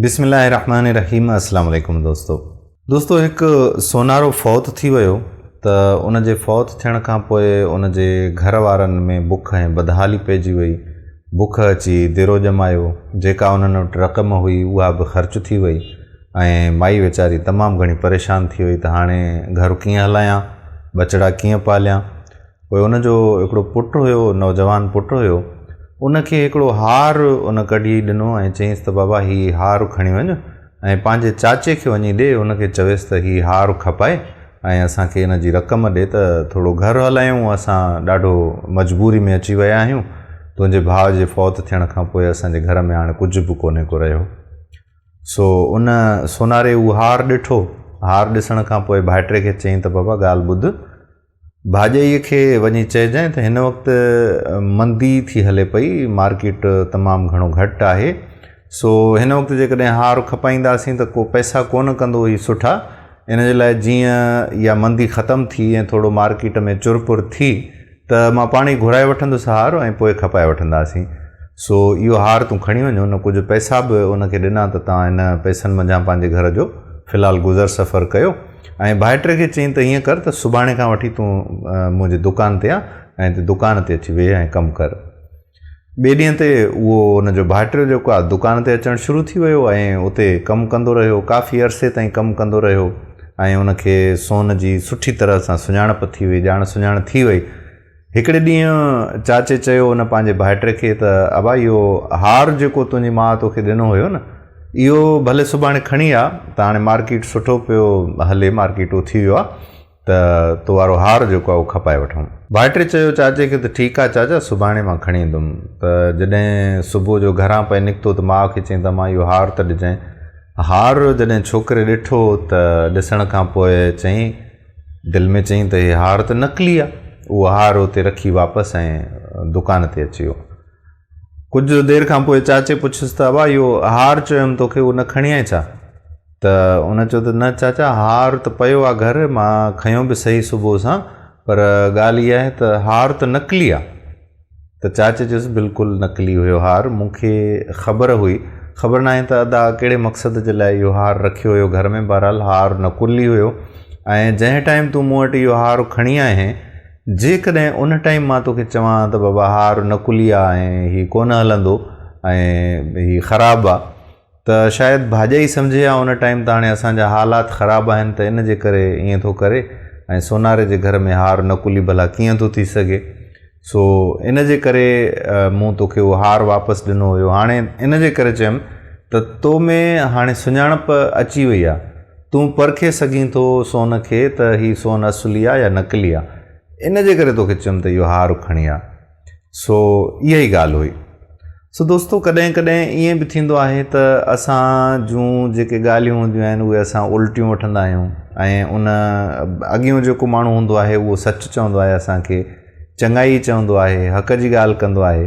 بسم الله الرحمن الرحيم اسلام عليڪم دوستو دوستو هڪ سونارو فوت ٿي ويو ته ان جي فوت ٿيڻ کان پوء ان جي گهر وارن ۾ بک ۽ بدحالي پئجي وئي بک اچي ديرو ڄمايو جيڪا انهن وٽ رقم هئي اها به خرچ ٿي وئي ۽ مائي ويچاري تمام گهڻي پريشان ٿي وئي ته هاڻي گهر ڪيئن هلايان ٻچڙا ڪيئن پاليان پوء ان جو هڪڙو پٽ هيو، نوجوان پٽ هيو، ان کي هڪڙو هار ان ڪڍي ڏنو ۽ چيس ته بابا هي هار کڻي وڃ ۽ پنهنجي چاچي کي وڃي ڏي، ان کي چويس ته هي هار کپائي ۽ اسان کي ان جي رقم ڏي ته ٿورو گهر هلايون، اسان ڏاڍو مجبوري ۾ اچي ويا آهيون، تنهنجي ڀاء جي فوت ٿيڻ کان پوء اسان جي گهر ۾ هاڻي ڪجهه به ڪونهي ڪو رهيو. سو ان سوناري هو هار ڏٺو، هار ڏسڻ کان پوء ڀائٽي کي چيائين ته بابا ڳالهه ٻڌ، ڀاڄيء کي وڃي چئجانء ته هن وقت مندي ٿي هلي پئي، مارڪيٽ تمام گهڻو گهٽ آهي، سو هن وقت جيڪڏهن هار کپائينداسين ته ڪو پئسا ڪونه ڪندو هي سٺا، ان جي لاء جيئن اها مندي ختم ٿي ۽ ٿورو مارڪيٽ ۾ چر پور ٿي ته مان پاڻ ئي گهرائي وٺندس هار ۽ پوء کپائي وٺنداسين، سو اهو هار تون کڻي وڃ. هن ڪجهه پئسا به هن کي ڏنا ته تان هن پئسن منجهان پنهنجي گهر جو في الحال گذر سفر ڪيو. ۽ ڀائٽي کي چيائين ته ائين ڪر ته سڀاڻي کان وٺي تون منهنجي دڪان تي آ ۽ هتي دڪان تي اچي ويهه ۽ ڪم ڪر. ٻئي ڏينهن تي اهو ان جو ڀائٽيو جيڪو آ دڪان تي اچڻ شروع ٿي ويو ۽ اتي ڪم ڪندو رهيو. ڪافي عرصي تائين ڪم ڪندو رهيو ۽ ان کي سون جي سٺي طرح سان سڃاڻپ ٿي وئي، ڄاڻ سڃاڻ ٿي وئي. هڪڙي ڏينهن چاچي چيو ان پنهنجي ڀائٽي کي ته ابا اهو هار جيڪو تنهنجي ماء توکي ڏنو هيو نه اهو ڀلي سڀاڻي کڻي آ ته هاڻي مارڪيٽ سٺو پيو هلي مارڪيٽ اٿي ويو آ ته تو وارو هار جيڪو آ اهو کپائي وٺون. ڀائٽي چيو چاچي کي ته ٺيڪ آ چاچا سڀاڻي مان کڻي ايندم ته جڏهن صبح جو گهران پئي نڪتو ته ماء کي چيائين ته امان اهو هار ته ڏجانء. هار جڏهن ڇوڪري ڏٺو ته ڏسڻ کان پوء چيائين. دل ۾ چيائين ته هي هار ته نقلي آ. اهو هار اتي رکي واپس ائين دڪان تي اچي ويو. ڪجهه دير کان پوء چاچي پڇيس ته ابا اهو هار چيم توکي اهو نه کڻي آئين ڇا؟ ته ان چيو ته نه چاچا هار ته پيو آ گهر مان کنيو به سهي صبح سان پر ڳالهه اها آهي ته هار ته نقلي آ. ته چاچي چيس، بلڪل نقلي هيو هار، مون کي خبر هئي. خبر ناهي ته ادا ڪهڙي مقصد جي لاء اهو هار رکيو هيو گهر ۾، بهرحال هار نقلي هيو ۽ جنهن ٽائيم تون مون وٽ اهو هار کڻي آئين، جيڪڏهن ان ٽائيم مان توکي چوان ها ته بابا هار نقلي آ ۽ هي ڪونه هلندو ۽ هي خراب آ. ته شايد ڀاڄائي سمجهي يا ان ٽائيم ته هاڻي اسان جا حالات خراب آهن ته ان جي ڪري ائين ٿو ڪري ۽ سوناري جي گهر ۾ هار نڪلي ڀلا ڪيئن ٿو ٿي سگهي سو ان جي ڪري مون توکي اهو هار واپس ڏنو هيو هاڻي ان جي ڪري چيم ته تو ۾ هاڻي سڃاڻپ اچي وئي آ تون پرکي سگهين ٿو سون کي ته هي سون اصلي آ يا نقلي آ ان جي ڪري توکي چيم ته اهو هار کڻي آ. سو اها ئي ڳالهه هئي. سو دوستو ڪڏهن ڪڏهن ائين به ٿيندو آهي ته اسان جون جيڪي ڳالهيون هونديون آهن اهي اسان الٽيون وٺندا آهيون ۽ ان اڳيون جيڪو ماڻهو هوندو آهي اهو سچ چوندو آهي اسان کي چڱائي چوندو آهي حق جي ڳالهه ڪندو آهي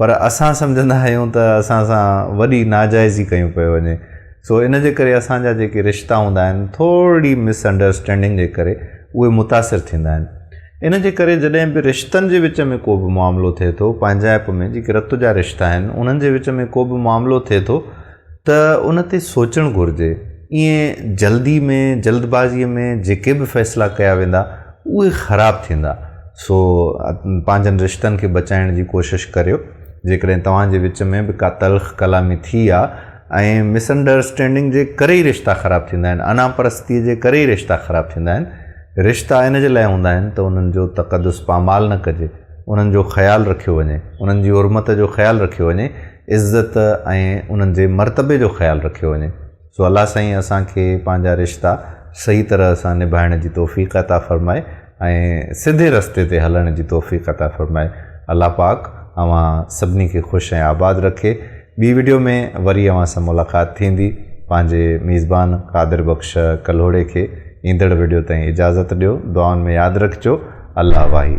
پر اسان سمجهندا آهيون ته اسان سان وڏي ناجائزي ڪيون پيو وڃي سو ان جي ڪري اسان جا جيڪي رشتا هوندا آهن ٿورڙي مس انڊرسٽينڊنگ جي ڪري اهي متاثر ٿيندا آهن ان جي ڪري جڏهن به رشتن جي وچ ۾ ڪو به معاملو ٿئي ٿو، پنهنجائپ ۾ جيڪي رت جا رشتا آهن، انهن جي وچ ۾ ڪو به معاملو ٿئي ٿو ته ان تي سوچڻ گهرجي. ائين جلدي ۾ جلد بازيء ۾ جيڪي به فيصلا ڪيا ويندا، اهي خراب ٿيندا. سو پنهنجن رشتن کي بچائڻ جي ڪوشش ڪريو. جيڪڏهن توهان جي وچ ۾ به ڪا تلخ ڪلامي ٿي آ ۽ مس انڊرسٽينڊنگ جي ڪري ئي رشتا خراب ٿيندا آهن، انا پرستيء جي ڪري ئي رشتا خراب ٿيندا آهن، رشتا ان جي لاء هوندا آهن ته انهن جو تقدس پامال نه ڪجي، انهن جو خيال رکيو وڃي، انهن جي حرمت جو خيال رکيو وڃي، عزت ۽ انهن جي مرتبي جو خيال رکيو وڃي. سو الله سائين اسان کي پنهنجا رشتا صحيح طرح سان نڀائڻ جي توفيق عطا فرمائي ۽ سڌي رستي تي هلڻ جي توفيق عطا فرمائي. الله پاڪ اوهان سڀني کي خوش ۽ آباد رکي. ٻي وڊيو ۾ وري اوهان سان ملاقات ٿيندي پنهنجي ميزبان قادر بخش ڪلهوڙي کي ايندڙ وڊيو تائين اجازت ڏيو دعائن ۾ ياد رکجو الله واهي.